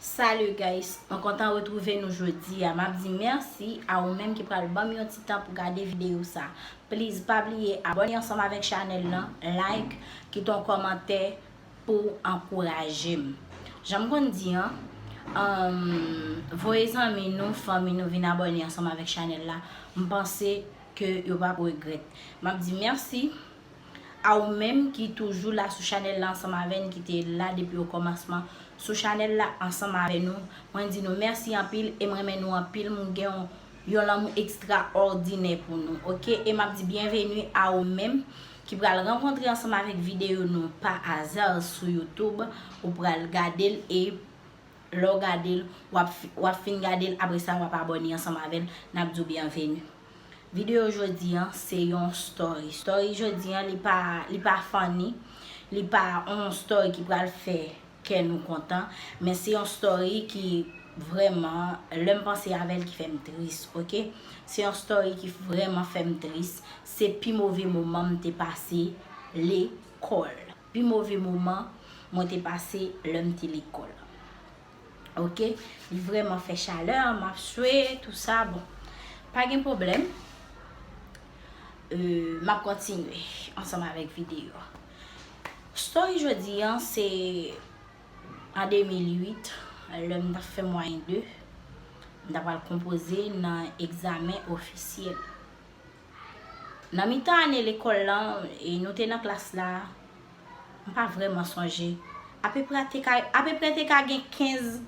Salut guys mwen kontan retrouve nou jodia map di merci a ou menm ki pral banm yon ti tan pou gade video sa please pa bliye abone ansanm avek chanel lan like kite yon komantè pouw ankourajem janm konn di an humm voye zanmi nou fanmi nou vin abone ansanm avek chanel la m panse ke yo pap regrèt map di merci. A ou menm ki toujou la sou chanèl la ansanm avè n ki te la depi o kòmansman sou chanèl la ansanm avè nou mwen di nou mèsi anpil e m renmen nou anpil m gen yon lanmou ekstra òdinè pou nou ok e map di byenveni a ou menm ki pral rankontre ansanm avèk videyo nou pa aza sou youtoub ou pral gade l e lè w gade l wap fin gade l apresa wap abòne ansanm avè n nap di w byenveni. Video jodi an se yon story. Story jodi an li pa li pa funny, li pa yon story ki pral fè kè nou kontan, men se yon story ki vrèman lè m panse avè l ki fè m tris ok. Se yon story ki vrèman fè m tris, se pi move moman m te pase lekòl. Pi move moman mwen te pase lè m te lekòl. ok li vreman fè chalè map swe tout sa bon pa gen problem map kontinye ansanm avek video story jodi an se an 2008 lèm tap fè mwayen 2 mta pral konpoze nan egzamen ofisyel Nan mitan ane lekòl lan, e nou te nan klas la, m pa vrèman sonje, apeprè te ka gen 15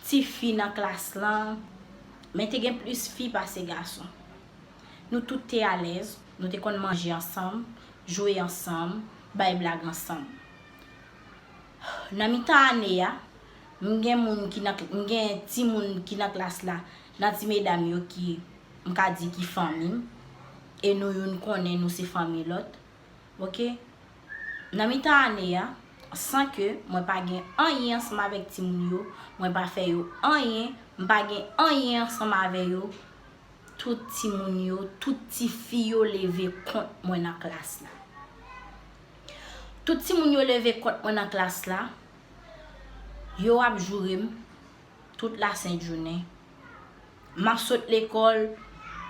ti fi nan klas lan, men te gen plis fi pase gason. Nou tout te alèz, nou te konn manje ansanm, jwe ansanm, bay blag ansanm. Nan mitan ane a, m gen moun ki nan, m gen timoun ki nan klas la, nan ti medam yo ki, m ka di ki fanmi m, e nou youn konnen nou se fanmi lòt. Ok. Nan mitan ane a, san ke mwen pa gen anyen ansanm avèk timoun yo, mwen pa fè yo anyen, m pa gen anyen ansanm avè yo, tout timoun yo, tout tifi yo leve kont mwen nan klas la. Tout timoun yo leve kont mwen nan klas la, yo ap joure m tout lasent jounen. M ap sot lekòl,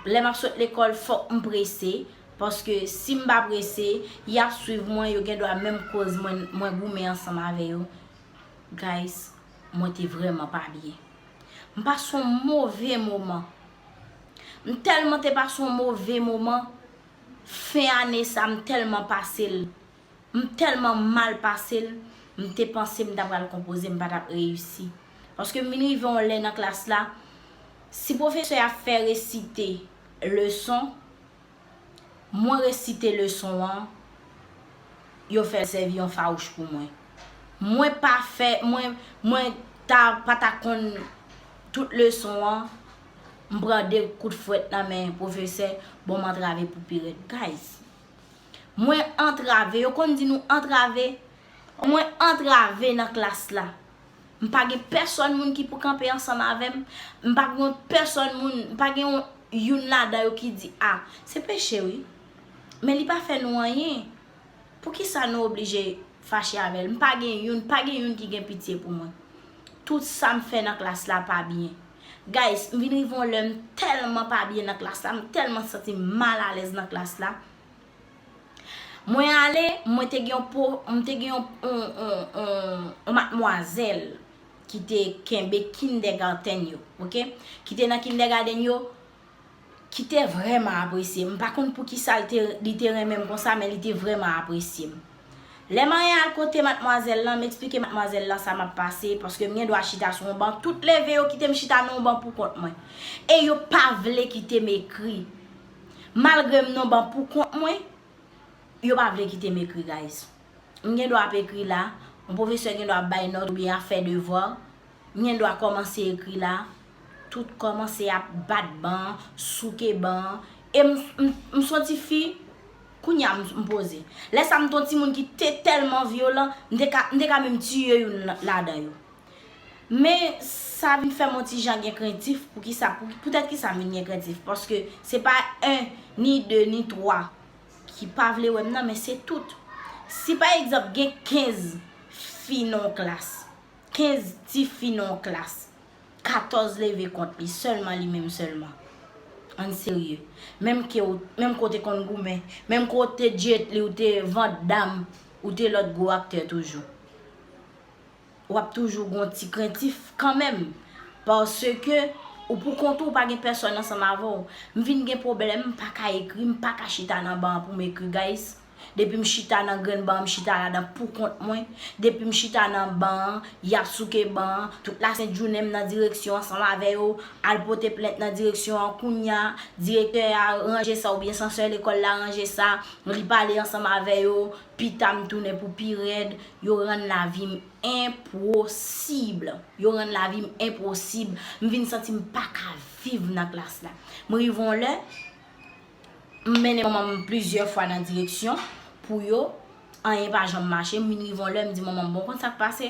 lè m ap sot lekòl fòk m prese, paske si m pa prese, y ap swiv mwen, yo gen dwa menm koz mwen goumen ansanm avè yo. Guys, mwen te vrèman pa byen. M pase yon move moman. M tèlman te pase yon move moman. Fen ane sa m tèlman pase l m tèlman mal pase l m te panse m ta pral konpoze m pa t ap reyisi paske m vin rive yon lè nan klas la si pwofesè a fè resite leson mwen resite leson an yo fè l sèvi yon fawouch pou mwen mwen pa fè mwen mwen ta pa ta konn tout leson an M pran de kout fwèt nan men pwofesè bon m antrave pou pi rèd guys Mwen antrave yo konn di nou antrave Mwen antrave nan klas la M pa gen pèsòn moun ki pou kanpe ansanm avè m M pa gen yon pèsòn moun M pa gen yon youn ladan yo ki di a Se peche wi Men li pa fè nou anyen Poukisa nou oblije fache avè l M pa gen youn pa gen youn ki gen pitye pou mwen Tout sa m fè nan klas la pa byen. Guys, m vin rive yon lè m tèlman pa byen nan klas la, m tèlman santi m mal alèz nan klas la. Mwen ale, mwen te gen yon po, m te gen yon, yon, yon, yon, yon matmwazèl ki te kenbe kindègaten yo, ok. Ki te nan kindègaden yo, ki te vrèman apresye m. M pa konn poukisa li te renmen m konsa, men li te vrèman apresye m. Lè m anyen al kote matmwazèl lan, m esplike matmwazèl lan sa m ap pase, paske m gen dwa chita sou yon ban, tout leve yo kite m chita nan yon ban poukont mwen. E yo pa vle kite m ekri. Malgre m nan yon ban poukont mwen, yo pa vle kite m ekri guys. M gen dwa ap ekri la, yon pwofesè gen dwa ap bay nòt oubyen ap fè devwa, M gen dwa kòmanse ekri la. Tout kòmanse ap bat ban an, souke ban an. E m son ti fi, kounye a m poze. Lè sa m te yon timoun ki te tèlman vyolan, m te ka menm tiye youn ladan yo. Men sa vin fè m yon ti jan gen krentif, poutèt ki sa m vin gen krentif? Paske se pa 1, ni 2, ni 3 ki pa vle wè m nan, men se tout. Si pa egzanp gen 15 fi nan yon klas. 15 tifi nan yon klas, 14 leve kont li, sèlman li menm sèlman. Ann serye. Menm ke ou, menm ke w te konn goumen, menm ke w te Jet Li, ou te Van Damme, ou te lòt gwo aktè toujou. W ap toujou gen yon ti krentif kanmenm. Paske ou pou kont ou, ou pa gen pèsòn ansanm avè w. M vin gen pwoblèm, m pa ka ekri, m pa ka chita nan ban an pou m ekri guys. Depi m chita nan grenn ban an m chita ladan poukont mwen, depi m chita nan ban an y ap souke ban an, tout lasent jounen m nan direksyon an san m avè yo, al pote plent nan direksyon an kounya direktè a ranje sa oubyen sansè lekòl la ranje sa, li pale ansanm avè yo, pita m tounen pou pi rèd, yo rann lavi m enpwosib, yo rann lavi m enpwosib, m vin santi m pa ka viv nan klas la. M rive yon lè. M mennen manman m plizyè fwa nan direksyon pou yo, anyen pa janm mache, m vin rive yon lè m di manman m bon w konn sa k pase,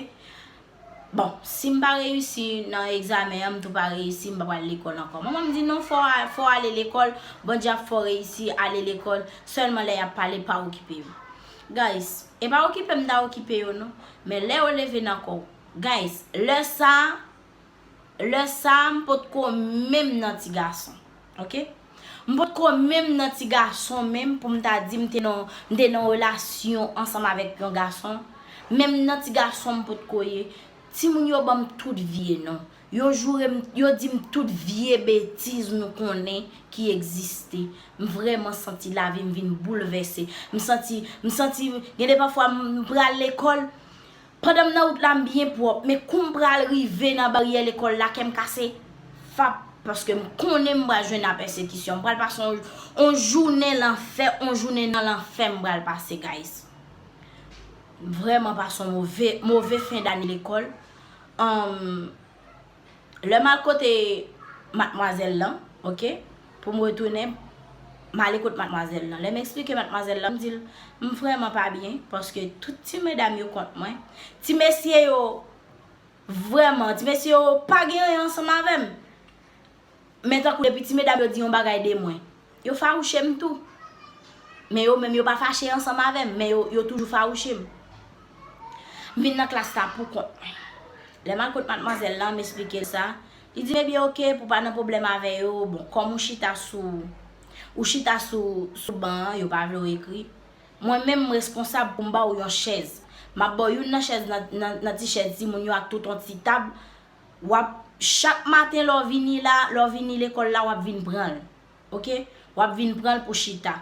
bon si m pa reyisi nan egzamen an m tou pa reyisi m pa pral lekòl ankò. Manman m di non fò w ale lekòl, Bondye ap fè w reyisi, ale lekòl, sèlman lè y ap pale pa okipe yo. Guys, e pa okipe m ta okipe yo non, men lè yo leve nan kò w, guys, lè sa Lè sa a m pot ko menm nan ti gason. Ok. M pot ko menm nan ti gason menm pou m ta di m te nan yon relasyon ansanm avèk yon gason. Menm nan ti gason m pot ko ye. Timoun yo ban m tout vye non. Yo joure m, yo di m tout vye betiz nou konnen ki egziste. M vrèman santi lavi m vin boulvèse. M santi, m santi, gen de pafwa m pral lekòl, Pandan m nan wout la m byen pwòp men kou m pral rive nan baryè lekòl la kè m kase fap paske m konnen m pral jwenn apèsekisyon m pral pase on jounen lanfè on jounen nan lanfè m pral pase guys m vrèman pase on move move fen dane lekòl humm. Lè m al kote matmwazèl lan, ok, pou m retounen, m ale kot matmwazèl lan. Lè m esplike matmwazèl lan, m di l, m vrèman pa byen, paske tout ti medam yo kont mwen. Ti mesye yo, vrèman, ti mesye yo pa gen anyen ansanm avè m. Men tankou depi ti medam yo di yon bagay de mwen, yo fawouche m tou. Men yo menm yo pa fache ansanm avè m, men yo toujou fawouche m. M vin nan klas la poukont mwen. Lè m al kot matmwazèl lan, m esplike l sa, li di m ebyen oke pou w pa nan pwoblèm avè yo, bon kòm ou chita sou ou chita sou ban an, yo pa vle w ekri, mwen menm m reskonsab pou m ba w yon chèz. M ap ba w youn nan chèz nan ti chèz timoun yo ak tout yon ti tab. wap chak maten lè w vini la, lè w vini lekòl la wap vin pran l. Ok, wap vin pran l pou chita.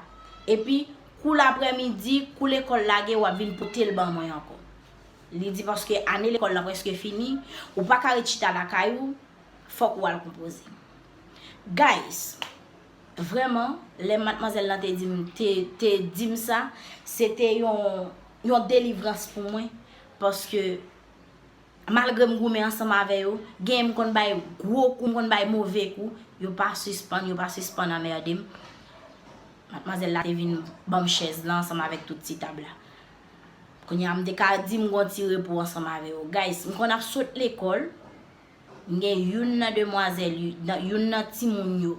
Epi kou laprèmidi, kou lekòl lage wap vin pote l ban mwen ankò. Li di paske ane lekòl la prèske fini, ou pa ka ret chita lakay ou, fòk ou al konpoze. Guys, vrèman, lè matmwazèl lan te di m, te di m sa, se te yon delivrans pou mwen paske Malgre m goumen ansanm avè yo, genyen m konn bay gwo kou, m konn bay move kou, yo pa sispann, yo pa sispann anmerde m. Matmwazèl la te vin ban m chèz lan ansanm avèk tout ti tab la. Kounye a m te ka di m gon ti repo ansanm avè yo. Guys, m konn ap sot lekòl, m gen youn nan demwazèl, youn nan timoun yo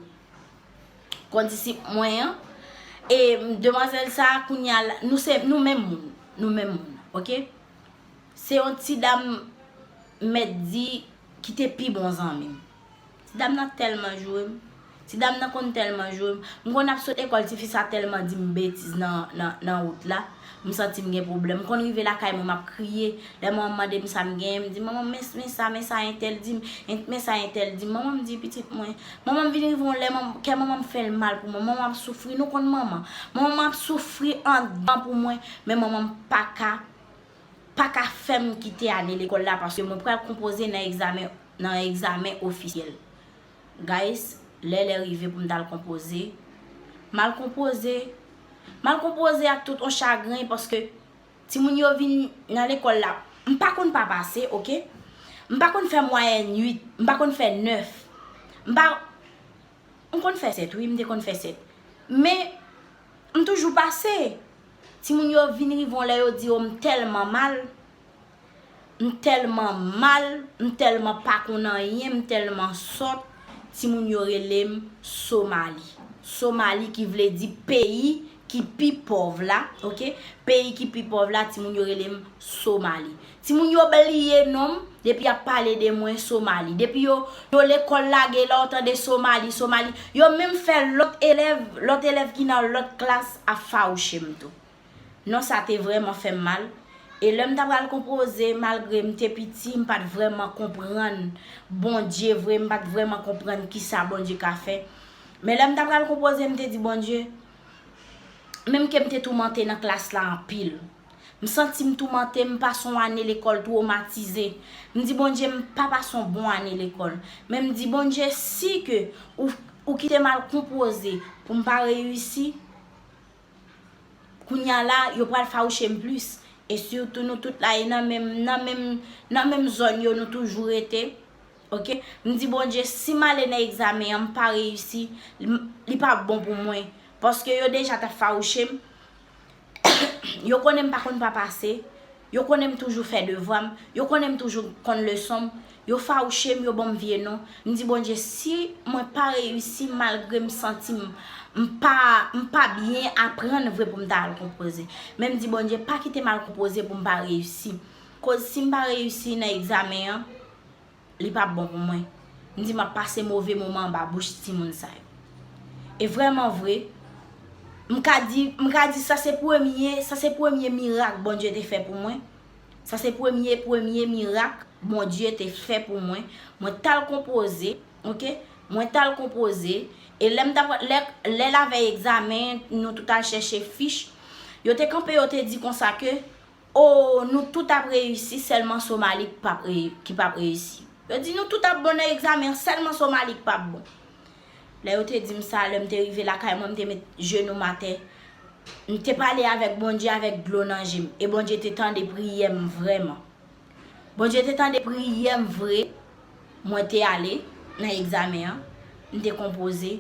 kondisip mwen an, e demwazèl sa a kounye a, nou se, nou menm moun, nou menm moun, ok. Se yon ti dam m mèt di ki te pi bon zanmi m. Ti dam nan tèlman joure m. Ti dam nan konn tèlman joure m. M konn ap sot ekòl ti fi sa tèlman di m betiz nan wout la. M santi m gen pwoblèm. M konn rive lakay mwen m ap kriye. Lè manman m mande m sa m genyen, m di, Manman men sa, men sa entèl di m, men sa entèl di m. Manman m di, Pitit mwen. Manman m vin rive yon lè kè manman m fè l mal pou mwen. Manman m ap soufri. Nou konn manman. Manman m ap soufri andan pou mwen. Men manman m pa ka. pa ka fè m kite ane lekòl la paske mwen pral konpoze nan egzamen nan egzamen ofisyèl guys lè lè rive pou m t al konpoze m al konpoze m al konpoze ak tout on chagren paske timoun yo vin nan lekòl la m pa konn pa pase ok m pa konn fè mwayèn 8 m pa konn fè 9 m pa. M konn fè 7 wi, m te konn fè 7. Men, m toujou pase. Timoun yo vin rive yon lè yo di o m tèlman mal, m tèlman mal, m tèlman pa konn anyen, m tèlman sòt, timoun yo rele m Somali. Somali ki vle di peyi ki pi pòv la ok peyi ki pi pòv la timoun yo rele m somali timoun yo bliye non m depi yap pale de mwen somali depi yo yo lekòl lage la ou tande somali somali yo menm fè lòt elèv lòt elèv ki nan lòt klas ap fawouche m tou non sa te vrèman fè m mal e lè m ta pral konpoze malgre m te piti m pat vrèman konprann Bondye vre m pat vrèman konprann kisa Bondye ka fè Men lè m ta pral konpoze m te di Bondye, menm ke m te toumante nan klas la anpil, m santi m toumante, m pase yon ane lekòl twomatize, m di Bondye m pa pase yon bon ane lekòl, men m di Bondye si ke ou kite m al konpoze pou m pa reyisi, kounya la yo pral fawouche m plis, e sitou nou tout la e nan menm zòn yo nou toujou rete, Ok m di Bondye si m ale nan egzamen an m pa reyisi li pa p bon pou mwen paske yo deja t ap fawouche m yo konnen m pa konn pa pase yo konnen m toujou fè devwa m yo konnen m toujou konn leson m yo fawouche m yo ban m vye non m di Bondye si mwen pa reyisi malgre m santi m m pa m pa byen aprann vre pou m ta al konpoze men m di Bondye pa kite m al konpoze pou m pa reyisi koz si m pa reyisi nan egzamen an Li pa bon pou mwen. M di m ap pase move moman anba bouch timoun sa yo. E vrèman vre, m ka di, m ka di sa se premye, sa se premye mirak Bondye te fè pou mwen. Sa se premye, premye mirak Bondye te fè pou mwen. Mwen t al konpoze, ok, mwen t al konpoze. E lè m t ap, lè, lè lavèy egzamen, nou tout al chèche fich. Yo te kanpe, yo te di konsa ke. Oh nou tout ap reyisi selman somali ki pap reyisi yo di nou tout ap bon nan egzamen an selman somali ki pap bon lè yo te dim sa lèm te rive lakay mwen m te met jenou m atè m te pale avèk Bondye avèk dlo nan jem e Bondye te tande priyèm vrèman Bondye te tande priyèm vre mwen te ale nan egzamen an m te konpoze.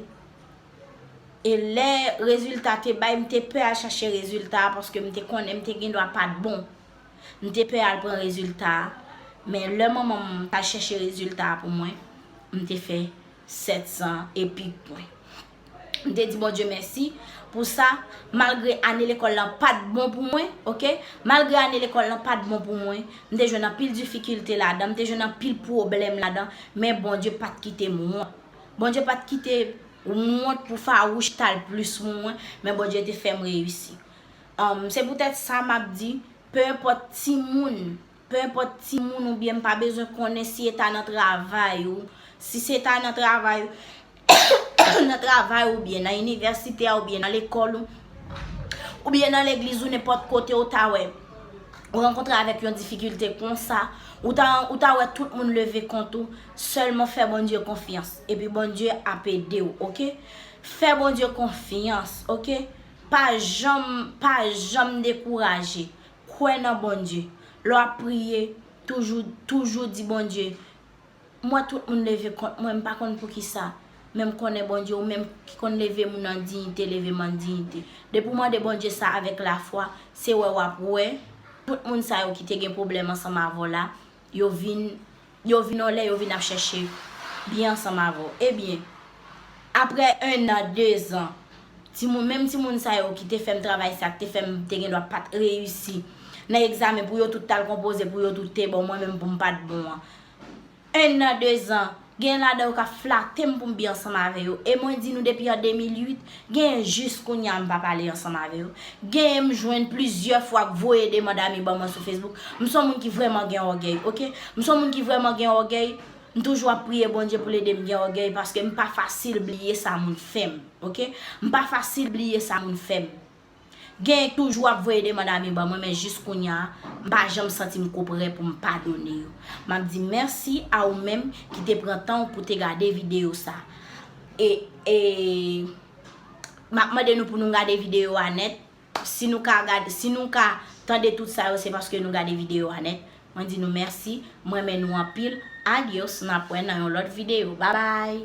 E lè rezilta a te bay, m te pè al chache rezilta a paske m te konnen m te gendwa pa t bon. M te pè al pran rezilta a. Men lè manman m t al chèche rezilta a pou mwen, m te fè 700 e pi pwen. M te di Bondye mèsi pou sa. Malgre ane lekòl lan pa t bon pou mwen, oke, malgre ane lekòl lan pa t bon pou mwen, m te jwenn anpil difikilte ladan, m te jwenn anpil pwoblèm ladan, men Bondye pa t kite m wont. Bondye pat kite m wont pou fawouch t al plis moun mwen, men Bondye te fè m reyisi. Se poutèt sa m ap di, penenpòt timoun, penenpòt timoun ou byen m pa bezwen konnen si e ta nan travay ou, si se ta nan travay ou, nan travay ou byen, nan inivèsite a ou byen nan lekòl ou, ou byen nan legliz ou nenpòt kote ou ta wè, ou rankontre avèk yon difikilte konsa, ou ta wè tout moun leve kont ou. Selman fè Bondye konfyans epi Bondye ap edew ok fè Bondye konfyans ok pa janm pa janm dekouraje kwè nan Bondye lè wap priye toujou toujou di Bondye m wè tout moun leve kont mwen m pa konn poukisa men m konnen Bondye ou menm ki konn leve moun an diyite leve m an diyite depi w mande Bondye sa avèk lafwa se wè wap wè tout moun sa yo ki te gen pwoblèm ansanm avèw la Yo vin, yo vin yon lè yo vin ap chèche byen ansanm avè w. Ebyen, aprè ennan, dezan, timoun, menm timoun sa yo ki te fè m travay sa, ki te fè m te gen dwa pa t reyisi nan egzamen pou yo tout t al konpoze, pou yo tout te bon, mwen menm pou m pa t bon an. Ennan, dezan. Gen ladan yo kap flate m pou m bi ansanm avè yo. E mwen di nou depi an 2008, genyen jis kounye a m pa pale ansanm avè yo. Genyen m jwenn plizyè fwa k voye demand ami ban mwen sou Facebook. M son moun ki vrèman gen ògèy, ok. M son moun ki vrèman gen ògèy, m toujou ap priye Bondye pou l ede m gen ògèy paske m pa fasil bliye sa moun fè m, ok. M pa fasil bliye sa moun fè m. Genyen k toujou ap voye demand ami ban mwen men jis kounya m pa janm santi m ko prè pou m padone yo. M ap di mèsi a ou menm ki te pran tan w pou te gade videyo sa. E e M ap mande nou pou nou gade videyo a nèt. Si nou ka gade si nou ka tande tout sa yo se paske nou gade videyo a nèt. Mwen di nou mèsi. M renmen nou anpil. Adios n ap wè nan yon lòt videyo. Babay!